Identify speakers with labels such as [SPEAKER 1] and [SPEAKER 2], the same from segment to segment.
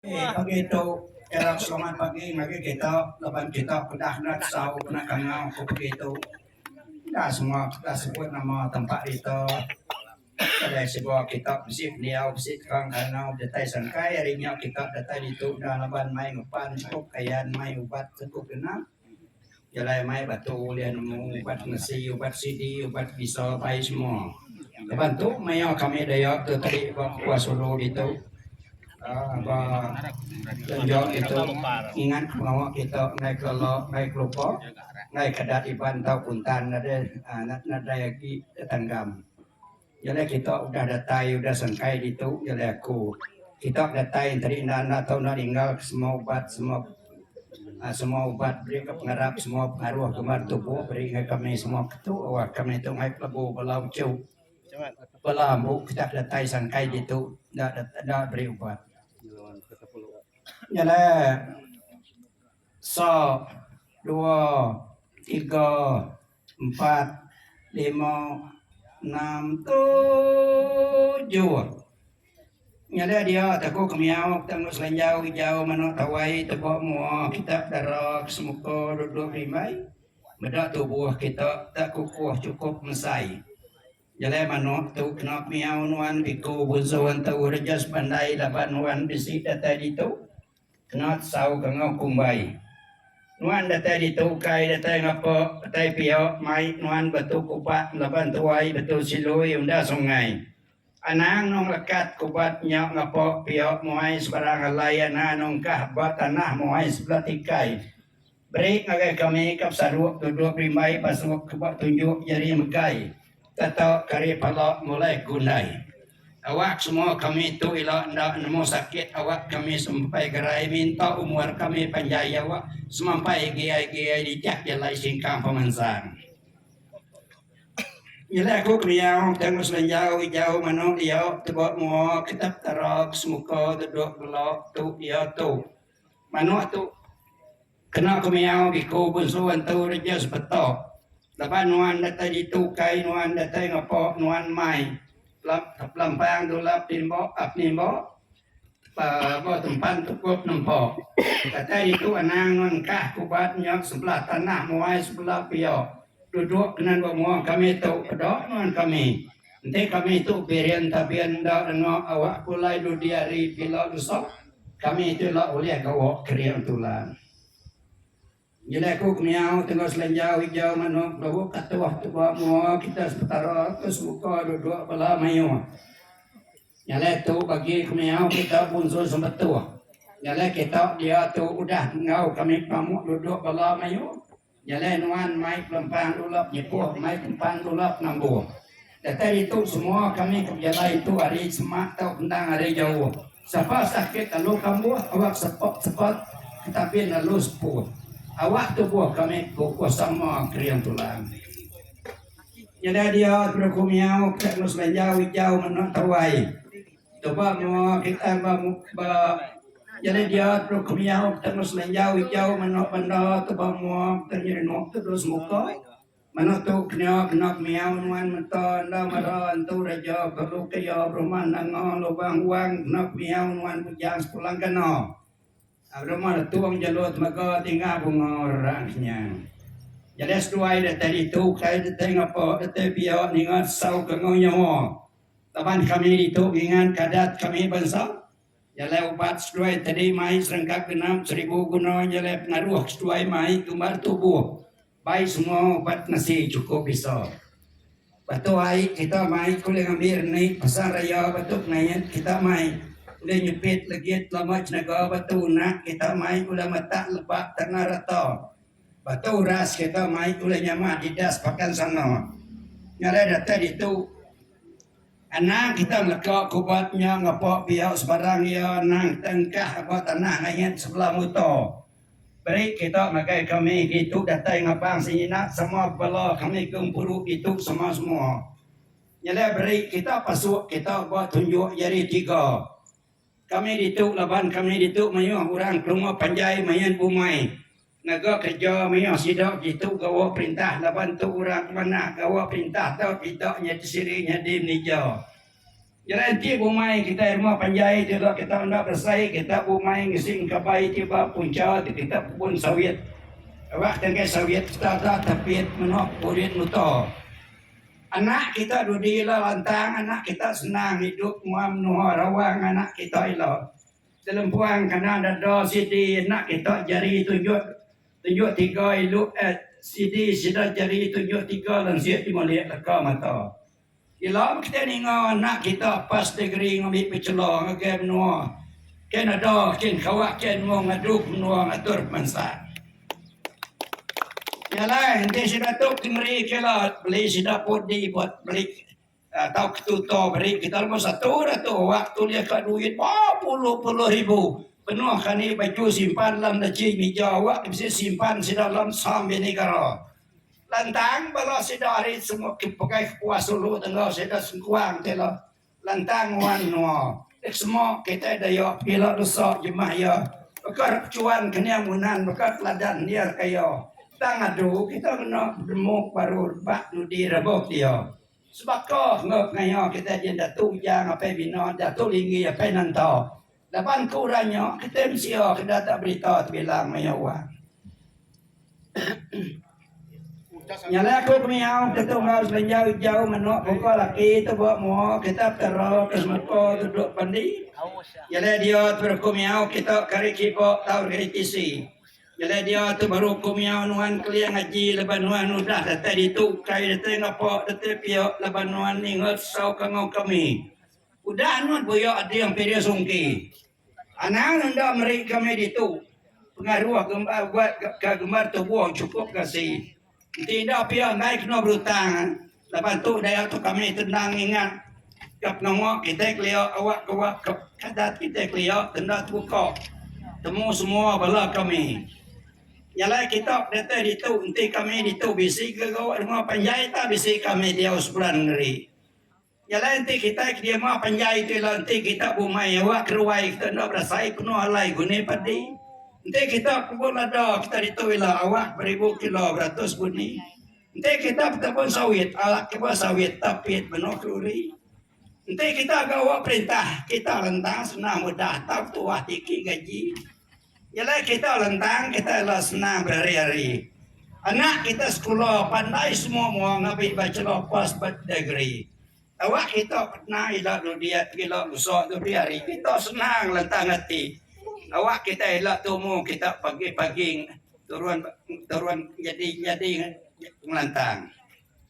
[SPEAKER 1] Ii, Pagi tu era Seluman Pagi ngagai kita laban kita peda enda tesau peda kangau ku pagi tu. Enda semua kita sebut nama tempat rita. Kadai semua kita bisi pendiau bisi tukang kangau datai sangkai ari nya kita datai ditu enda laban mai ngepan sekup kayan mai ubat sekup dina. Jalai mai ba tu ulih nemu ubat ngesi, ubat sidi, ubat bisa pai semua. Laban tu maya kami dayak tu tadi ba Kuah Sulu ditu aaa ba Lenjo ditu ingat pengawa kita enggai kelo enggai kelupa enggai ke adat Iban tau Kuntan nadai aaa nadai agi tetanggam. Jalai kita udah datai udah sengkai ditu jalai aku. Kita datai enteri enda enda tau enda ninggalka semua ubat semua semua ubat beri ka pengarap semua pengaruh gambar tubuh beri ngagai kami semua ke tu wah kami tu mai pelebu bala uchu bala ambu kita datai sengkai ditu enda enda beri ubat. Jalai Sa, dua, tiga, empat, lima, enam, tujuh. Nyada dia te ku kemiau kita enggau selanjau ijau manu tawai teba mua kita dara ke semuka duduk rimbai meda tubuh kita te kukuh chukup mesai. Jalai manuk tu kena kemiau nuan biku bunsu entu Rejas Bandai laban nuan bisi datai ditu. Kenat sauka enggau kumbai. Nuan datai ditu ukai datai ngapa datai pia mai nuan batu kupat laban tuai batu silui unda sungai. Anang nong lekat kupat nya ngapa pia muai sebarang alai ana nongkah ba tanah muai sebelah tikai. Beri ngagai kami ka pesadup duduk berimbai basuh ke ba tunjuk jari megai tata kari pala mulai ke undai. Awak semua kami tu ila enda nemu sakit awak kami semampai gerai minta umur kami panjai jawa semampai giai-giai dijak jalai singkang pemansang. Nyelai aku kemiau tang ba semenjau ijau manu diau tebuk mua ke tak tara ke semuka duduk bela tu iya tu. Manuk tu kena ku miau biku bunsu antu reja sebeto laban nuan datai ditu kai nuan datai ngepo nuan mai pelampang dulap timbo penimbo ba tempat tukup nempo datai ditu anang nuan engkah ke ubat nyau sebelah tanah muai sebelah pio dudok kenan ba muang kami tu pedo nuan kami enti kami tu birin tabin enda rengok awak pulai dudi hari pila leso. Kami tu enda ulih gawa kering tulan. Nyadi aku ke miau tengah selenjau hijau manuk lawu katuh tuba mua kita sepetara ke semuka duduk bala mayuh. Nyalai tu bagi ke miau kita bunsu sembetuh. Nyalai kita dia tu udah enggau kami pamuk duduk bala mayuh. Jalai nuan mai pelempang dulap nyepuh mai pelempang dulap nambung. Datai ditu semua kami ke bejalai intu ari semak tau endang ari jauh. Sapa sakit lalu kambuh awak sepet sepet ke tabin lalu sepuh. Awak tubuh kami kukuh sama kering tulang. Nyada dia ke beruku miau ke tak ngelu selanjau ijau menu tawai. Tuba mua kitai ba ba jadi dia telu kemiau kita nemu semenjau ijau meno benda tuba mua kita nyadi nemu tu dulu semuka meno tu kena kena kemiau nuan menta enda mara entu reja perlu ke iya berumah nanga lubang wang kena kemiau nuan bujang sekula kena rumah letung jelu tenaga tinga bunga rerang kinya. Jadi seduai daripada itu kitai dite ngapa dite pia ninga sau ke enggau nyawa. Taban kami ditu ngingat kadat kami bansa, jalai ubat seduai tadi mai serengkap genap seribu guna jalai pengaruh seduai mai tumbar tubuh bai semua ubat nasi chukup bisa. Batu ai kita mai ke ulih ngambil ni pasang raya batu pengait kita mai ulih nyepit legit lama cenaga batu unak kita mai ulah matak lebak tanah rata Ba tu ras kita mai ulih nyama Adidas pakan sana. Ngarai datai ditu, anang kita ngeleka ke ubat nya ngapa pia sebarang iya anang kita engkah ba tanah langit sebelah muto. Beri kita ngagai kami ditu datai ngabang senyina sama bala kami ke empuru ditu sama semua. Nyelai beri kita pasuk kita ba tunjuk jari tiga. Kami ditu laban kami ditu mayuh orang kelumur panjai main bumai ngaga kereja mayuh sida ditu gawa perintah laban tu orang ke manah gawa perintah tu kita nya kesiri nyadi menija gerenti bumai kitai rumah panjai tu ila kita enda beresai kita bumai ngising kabai ti ba punca ti kita pebun sawit aba tangkai sawit kita da tapit menoh burit muto. Anak kita dudi ila lantang anak kita senang idup mua menoa rawang anak kita ila. Selempuang kana dada sidi anak kita jari tunjuk tunjuk tiga ilu eh sidi sida jari tunjuk tiga lansik dimulih leka mata. Ila meh kitai ninga anak kita pas degree ngambi bachelor ngagai menoa ken ada ken kawa ken mung adu menoa ngatur pemansa. Jalai enti sida tu ti meri kira beli sida pudi buat beli atau ke tutor meri kita nombor satu dah tu wak tulis ka duit bepuluh puluh ribu penuh kali baju simpan dalam laci mija wak tu mesti simpan sida dalam sam bini negara lantang bala sida ari semua ke pekai kepuas dulu tangga sida sengkuang ti ila. Lantang wan nua. Xmo kitai dayo pila dosa jemah iya baka repechuan kening unan baka teladan nir kayo. Tang adu kita ngena bedemuk baru rebak nudi rebok dia. Sebaka enggau pengaya kitai jin Datu Ujang apai Bina, Datu Linggi apai Nanta. Laban ku orang nya, kitai mensia ke datak berita tebilang maya wang. Nyala aku ke miau ke tunggau selenjau ijau menoa buka laki tu bawa mua kita tera ke semuka tu duk pendi. Nyala dia tu baru ku miau kita kari kiba tau kari tisi. Nyala dia tu baru ku miau nuan keliang aji laban nuan udah datai ditu ukai datai ngapa datai pia laban nuan ninga tusau kangau kami. Udah anak buya Ading Piding Sungki. Anang enda meri kami ditu pengaruh gembar buat ka gembar tubuh chukup kasi. Enti enda pia andai kena berutang laban tu daya tu kami tenang ingat ka pengawa kitai kelia awak ka wak ka adat kitai kelia ke enda tebuka temu semua bala kami. Nyalai kita ke datai ditu enti kami ditu bisi gega awak rumah panjai tah bisi kami diau seberan ngeri. Nya alai enti kitai ke diama panjai ti ila enti kita bumai awak ke ruai kita enda berasai penuh alai guni padi. Enti kita pebun lada kita ditu ila awak beribu kilo beratus guni. Enti kita petebun sawit awak ke ba sawit tapit menoh keluri. Enti kita ga awak perintah kita lentang senang udah tau tuah tiki gaji. Ila kita lentang kita ila senang berari-ari. Anak kita sekula pandai semua mua ngabi bachelor pas degree. Tawa kita kena ila dudi ila usa dudi ari kita senang lentang ati. Tawa kita ila tumu kita pagi-pagi turun turun nyadi nyadi ngelantang.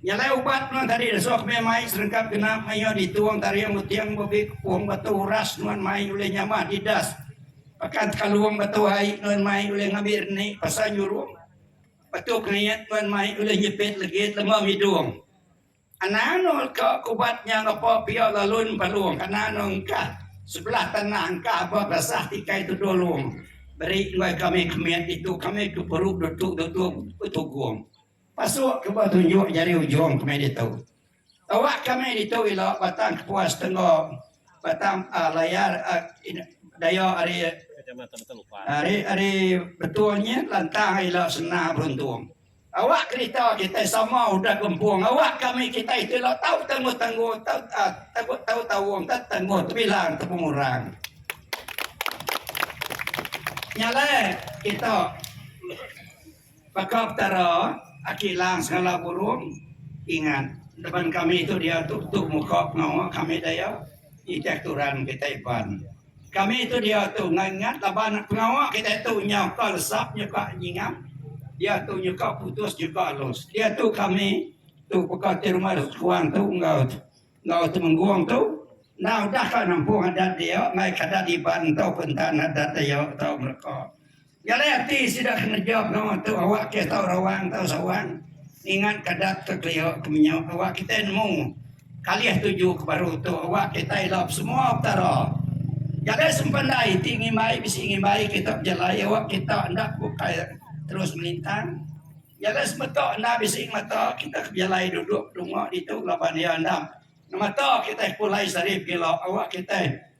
[SPEAKER 1] Nyelai ubat nuan tadi esok meh mai serengkap genap mayuh ditung taring uting bebit kepung batu uras nuan mai ulih nyamah didas pekan tekalung batu ai nuan mai ulih ngambi reni pasal nyurung batu kengait nuan mai ulih nyepit ligit lema ngidung anang nu leka ke ubat nya ngepo pia lalun palung kana nu engkah sebelah tanah engkah ba basah tikai tuduh long beri nuai kami kemit ditu kami ke peru dotu dotu betugung. Pasuk keba tunjuk jari ujung ke meh ditu. Tawa ka meh ditu ila Batang Kepuas Tengga, Batang a Layar a daya ari ari ari betul nya lantang ila Sena Beruntung. Awak kerita kitai sama udah gempung awak ka meh kitai tu ila tau tangguh tangguh tau a tangguh tau taung tau tangguh tebilang tau pengurang. Nya alai kita. Baka Petara, Aki Lang Sengala Burong, Ingat, deban kami tu diatu tu muka pengawa kami daya nitih turan kitai Iban. Kami tu diatu enggau ingat laban pengawa kitai tu nyauka lesap nyuka nyingap, diatu nyuka putus nyuka alus. Diatu kami tu baka ti rumah Skuang tu enggau enggau Temenggong tu enda udah ka nampung adat dia mai ka adat Iban tauka enta adat daya tau mereka. Jalai ati sida keneja pengawa tu awak ke tau rawang tau sawang ngingat ke adat ke kelia ke menyu awak kitai nemu kalih tuju ke baru tu awak kitai ila besemua Petara. Jalai sempandai ti ngimbai bisi ngimbai kita bejalai awak kita enda bukai terus melintang. Jalai semeta enda bisi ngemata kita ke bejalai duduk bedunga ditu laban iya enda ngemata kitai pulai sehari pila awak kitai